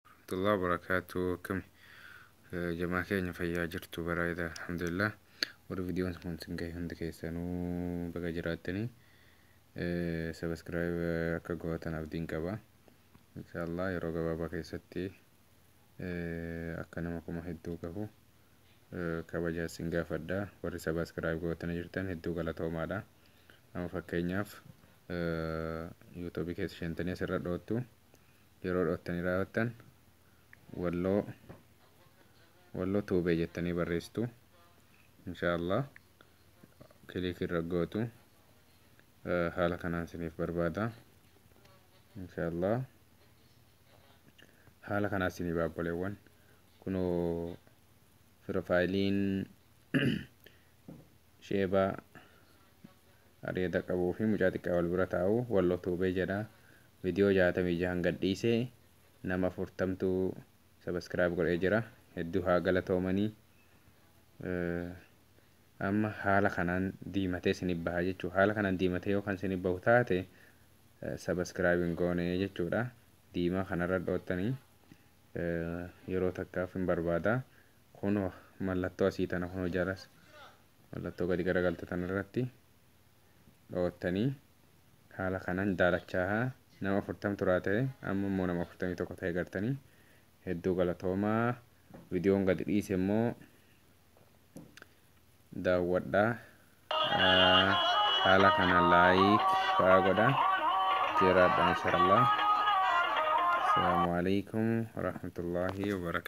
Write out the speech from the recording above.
Warahmatullahi wabarakatuh akkami jamaa keenya fayyaa jirtu bareeda alhamdulillah warri vidiyoon kun sin gahe hundi keessanuu baga jiraattanii sabaskiraayib akka gootan abdiin qaba inshaallah yeroo gabaabaa keessatti akka nama kuma hedduu gahu kabaja sin gaafadha warri sabaskiraayib gootanii jirtan hedduu galatoomaadha amma fakkeenyaaf yuutuubii keessa seentanii asirra dhoottu yeroo dhoottanii raawwattan walloo walloo tuubee jettanii barreessitu insha allah kiliik irra gootu haala kanaan isiniif barbaada insha allah haala kanaa isiniif baabboleewwan kunoo piroofaayiliin sheebaa Areeda qabuu fi mucaa xiqqaa wal bira taa'u Wallo Tube jedha Video 66n gad dhiise nama 40tu subscribe godhee jira hedduu haa galatoomani Amma haala kanaan diimatee sinif baha jechuu haala kanaan diimatee yoo kan sinif bahu taate subscribe hin goone jechuudha diimaa kanarra dhoottani yeroo takkaaf hin barbaada kunoo mallattoo asii tana kunoo jalas mallattoo gadi garagalte tan irratti dhoottanii haala kanan daalachaaha nama afurtam turaa ta'e amma immoo nama afurtamii tokko ta'e gartanii hedduu galatoomaa vidiyoon gadi dhiise immoo daawwadha haala kana laayik fa'aa godha jiraadha inshallah asalaamu alaikum warahmatullaahi wabarakaatu